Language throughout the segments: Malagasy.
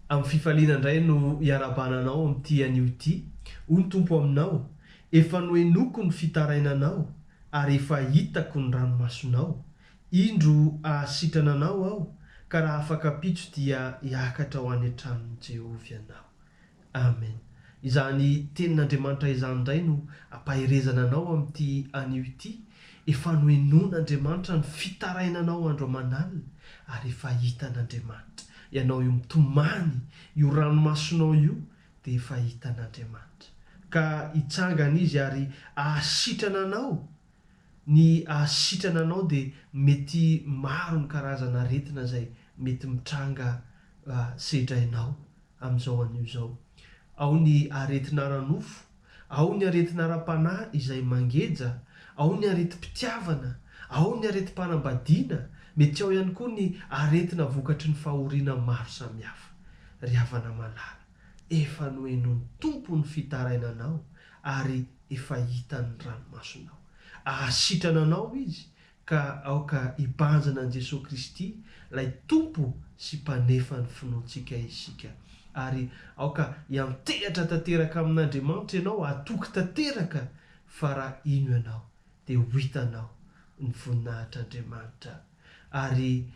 Amin'ny fifaliana indray no iarahabana anao amin'ity anio ity. Hoy ny Tompo aminao, Efa nohenoiko ny fitarainanao ary efa hitako ny ranomasonao. Indro hahasitrana anao Aho, ka raha afaka ampitso dia hiakatra ho any an-tranon'i Jehovah ianao. Amen izany tenin'Andriamanitra izany indray no ampaherezana anao amin'ity anio ity, efa nohenoin'Andriamanitra ny fitarainanao andro aman'alina ary efa hitan'Andriamanitra ianao io mitomany io ranomasonao io dia efa hitan'Andriamanitra ka hitsangana izy ary ahasitrana anao, ny ahasitrana anao dia mety maro ny karazana aretina izay mety mitranga sedrainao amin'izao anio izao. Ao ny aretina ara-nofo, ao ny aretina ara-panahy izay mangeja, ao ny aretim-pitiavana, ao ny aretim-panambadiana, mety ao ihany koa ny aretina vokatry ny fahoriana maro samihafa. Ry havana malala, efa nohenoin'ny Tompo ny fitarainanao ary efa hitan'ny ranomasonao. Hahasitrana anao Izy ka aoka hibanjina an'i Jesoa Kristy, ilay Tompo sy Mpanefan'ny finoantsika isika. Ary aoka hiantehatra tanteraka amin'Andriamanitra ianao, hatoky tanteraka fa raha hino ianao dia ho hitanao ny voninahitr'Andriamanitra. Ary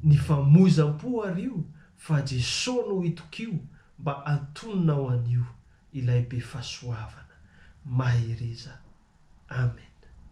ny famoizam-po ary io fa Jesoa no itokio mba hantononao an'io ilay Befahasoavana. Mahereza. Amen.